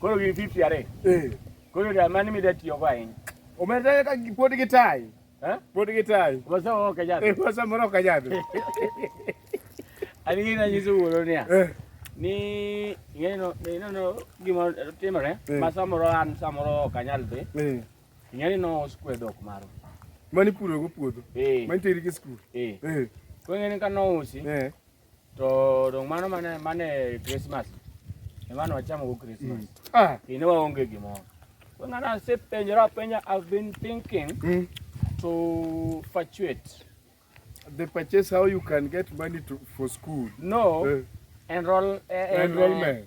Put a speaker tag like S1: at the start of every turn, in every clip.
S1: Koro gin 50 are. Eh. Koro da mani mi da tiyo go ahinya. Omedre ka pod gi tai. Eh? Pod gi tai. Wasa o ka jadhi. Eh, wasa moro ka jadhi. Ani gina nyiso wuoro niya. Eh. Ni ng'eno ng'eno no gima timore eh. ma samoro an samoro ok anyal dhi. Eh. Ng'eni no oskwe dhok maro. Mani puro go puodho. Eh. Mani teri gi skul. Eh. Eh. Kwenye ni kanousi. Eh. To dong' mano mane mane Christmas. Emano wachamo go Christmas. Mm. Ah, kine waonge gimoro. Kwa ng'ana asepenjora penja I've been thinking mm. to fluctuate. The purchase how you can get money to, for school. No. Uh, enroll, uh, enrollment.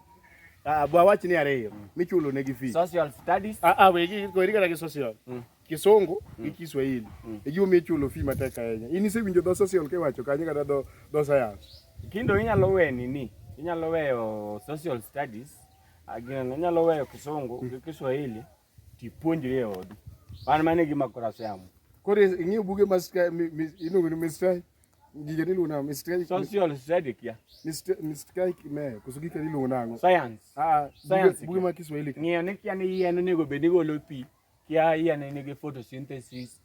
S1: Ah, bwa wach ni ariyo mm. michulo ne gi fee. Social studies. Ah ah we gi ko irika gi social. Mm. Kisungu mm. gi Kiswahili. Mm. E giwo michulo fee matek ahinya. In isewinjo dho social ke wacho kanyo kata dho dho science. Kindo inyalo we nini? Inyalo weyo social studies. Agin ah, inyalo weyo Kisungu gi mm. Kiswahili. Tipuonjri e odi. Wan mane gima kora siamo. Kore ing'eyo buge ma iluongo ni Mr. Gige ni luna Mr. Social study kia. Mr. Mr. Kime koso gike ni luna ngo. Science. Ah, science. Buge ma Kiswahili. Ng'eyo ni kia ni yien onego bed ni golo pi. Kia yien ni gi photosynthesis.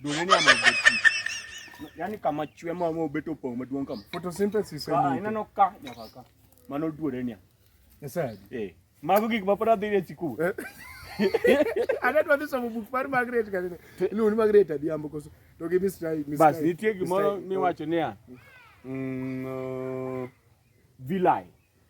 S1: Dole ni ama obet. Yaani kama chwe ma ma obet opong maduong kama. Photosynthesis en. Ah, ineno ka nyaka ka. Mano duore ni. Esa. Eh. Mago gik ma pora dhi e sikul. Eh. Ana dwa somo buk mar Margaret kanene. Iluongo ni Margaret Adhiambo koso. To gi Miss Rai, Miss Rai. Bas nitie gimoro miwacho niya. Mm, uh, vilai.